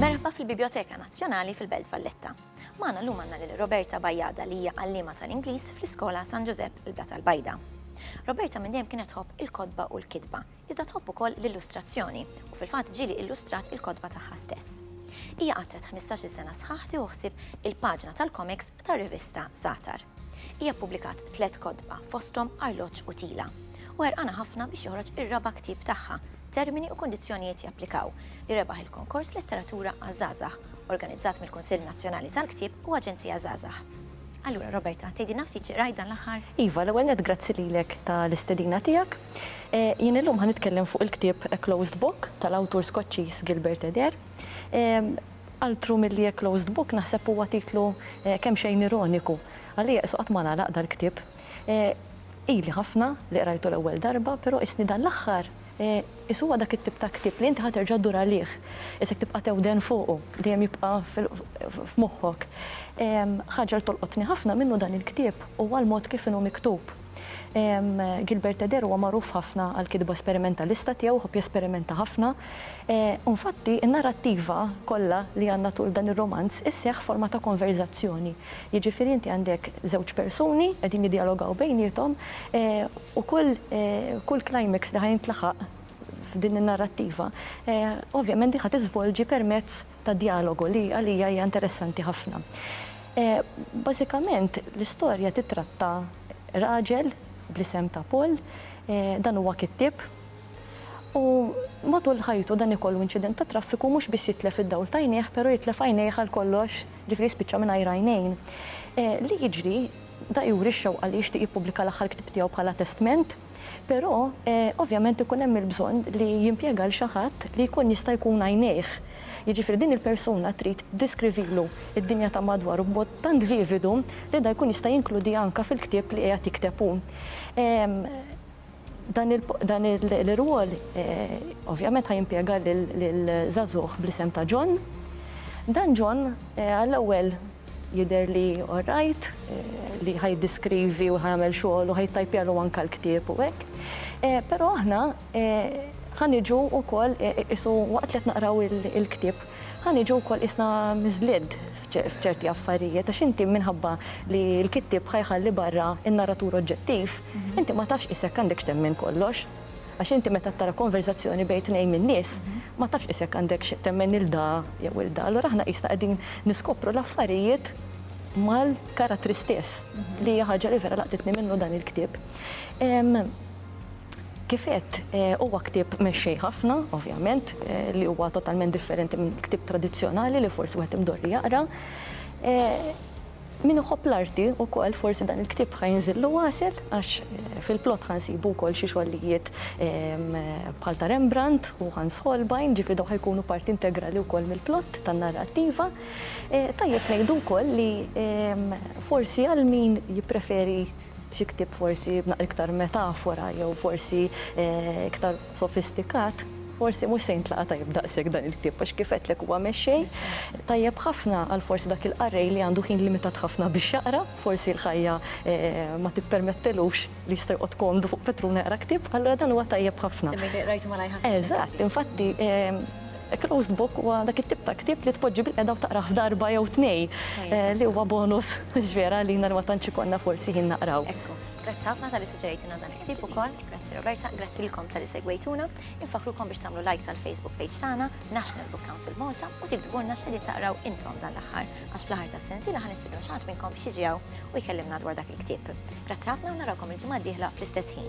Merħba fil-Bibjoteka Nazzjonali fil-Belt Valletta. Magħna llum għandna lil Roberta Bajjada li hija għalliema tal-Ingliż fl-Iskola San Ġużepp il-Blat tal-Bajda. Roberta minn dejjem kienet tħobb il-kotba u l-kitba, iżda tħobb ukoll l-illustrazzjoni u fil-fatt ġieli illustrat il-kotba tagħha stess. Hija qatgħet ħmistax-il sena sħaħ tieħu ħsieb il-paġna tal-komiks tar-rivista Zatar. Hija ppubblikat tliet kotba, fosthom Arloġġ u Tila, u ħerqana ħafna biex joħroġ ir-raba' ktieb tagħha, Termini u Kundizzjonijiet Japplikaw, li rebaħ il-Konkors Letteratura għaż-Żgħażagħ, organizzat mill-Kunsill Nazzjonali tal-Ktieb u Aġenzija Żgħażagħ. Allura, Roberta, tgħidilna ftit xi qrajt dan l-aħħar? Iva, l-ewwel nett grazzi lilek tal-istedina tiegħek. Jien illum ħa nitkellem fuq il-ktieb A Closed Book tal-awtur Skoċċiż Gilbert Adair. Altru milli A Closed Book naħseb huwa titlu kemxejn ironiku. Għalija qisu qatt ma ngħalaq dal-ktieb. Ili ħafna li qrajtu l-ewwel darba, però qisni dan l-aħħar qisu huwa dak it-tip ta' ktieb li inti ħa terġa' ddur għalih. Qisek tibqa' tewden fuqu, dejjem jibqa' f'moħħok. Ħaġa li tolqotni ħafna minnu dan il-ktieb huwa l-mod kif inhu miktub. Gilbert Eder huwa magħruf ħafna għall-kitba sperimentalista tiegħu, ħobb jesperimenta ħafna. U nfatti, in-narrattiva kollha li għandna tul dan ir-romanz isseħħ forma ta' konverżazzjoni. Jiġifieri inti għandek żewġ persuni qegħdin jiddjalogaw bejniethom u kull kull climax li ħa jintlaħaq f'din in-narrattiva ovvjament din ħa tiżvolġi permezz ta' djalogu li għalija hija interessanti ħafna. Bażikament l-istorja titratta raġel bl-isem ta' Paul, dan huwa kittieb u matul ħajtu dan ikollu inċident ta' traffiku mhux biss jitlef id-dawl ta' għajnejh però jitlef għajnejh għal kollox, ġifieri jispiċċa mingħajr għajnejn. Li jiġri, da juri x-xewqa li jixtieq jippubblika l-aħħar ktieb tiegħu bħala testment. Però, ovvjament ikun hemm il-bżonn li jimpjega lil xi ħadd li jkun jista' jkun għajnejh. Jiġifieri din il-persuna trid tiddeskrivilu d-dinja ta' madwaru b'mod tant vividu li dan jkun jista' jinkludiha anke fil-ktieb li qiegħed jikteb hu. Dan l-irwol ovvjament ħa jimpjega lil żagħżugħ bl-isem ta' John. Dan John għall-ewwel Jidher li all right, li ħa jiddiskrivi u ħa jagħmel xogħol u ħa jittajpjalu anke l-ktieb u hekk. Però aħna ħa niġu wkoll isu waqt li qed naqraw il-ktieb, ħa niġu wkoll qisna miżlied f'ċerti affarijiet għax inti minħabba li l-kittieb ħa jħalli barra n-narratur oġġettiv, inti ma tafx qisek għandek x'temmen kollox. Għax inti meta tara konverżazzjoni bejn tnejn min-nies, ma tafx qis jekk għandekx temmen lil da jew il da. Allura aħna qisna qegħdin niskopru l-affarijiet mal-karattri stess, li hija ħaġa li vera laqtitni minnu dan il-ktieb. Kif għedt, huwa ktieb mexxej ħafna, ovvjament, li huwa totalment differenti minn ktieb tradizzjonali li forsi wieħed imdorri jaqra. Min iħobb l-arti wkoll forsi dan il-ktieb ħa jinżillu għasel għax fil-plott ħa nsibu wkoll xi xogħlijiet bħal ta' Rembrandt u Hans Holbein, ġifieri dawn ħa jkunu parti integrali wkoll mill-plott tan-narrattiva. Tajjeb ngħidu wkoll li forsi għal min jippreferi xi ktieb forsi b'naqra iktar metafora jew forsi iktar sofistikat, forsi mhux se jintlaqa' tajjeb daqshekk dan il-ktieb għax kif għedtlek huwa mexxej tajjeb ħafna għal forsi dak il-qarrej li għandu ħin limitat ħafna biex jaqra, forsi l-ħajja ma tippermettilux li jista' joqgħod komdu fuq petruna jaqra ktieb, allura dan huwa tajjeb ħafna. Semmejt li qrajtu malajr ħafna. Eżatt, infatti a closed book huwa dak it-tip ta' ktieb li tpoġġi bilqiegħda u taqrah f'darba jew tnejn li huwa bonus vera għalina li ma tantx ikollna forsi ħin naqraw. Ekku, grazzi ħafna talli suġġerejtilna dan il-ktieb. Sib ukoll, grazzi Roberta, grazzi lilkom tal-li segwejtuna, infakrukom biex tagħmlu like tal-Facebook page tagħna, National Book Council Malta, u tiktbulna x'qegħdin taqraw intom dan l-aħħar, għax fl-aħħar tas-sensiela ħa nistidnu xi ħadd minnkom biex jiġi hawn u jkellimna dwar dak il-ktieb. Grazzi ħafna u narawkom il-ġimgħa d-dieħla fl-istess ħin.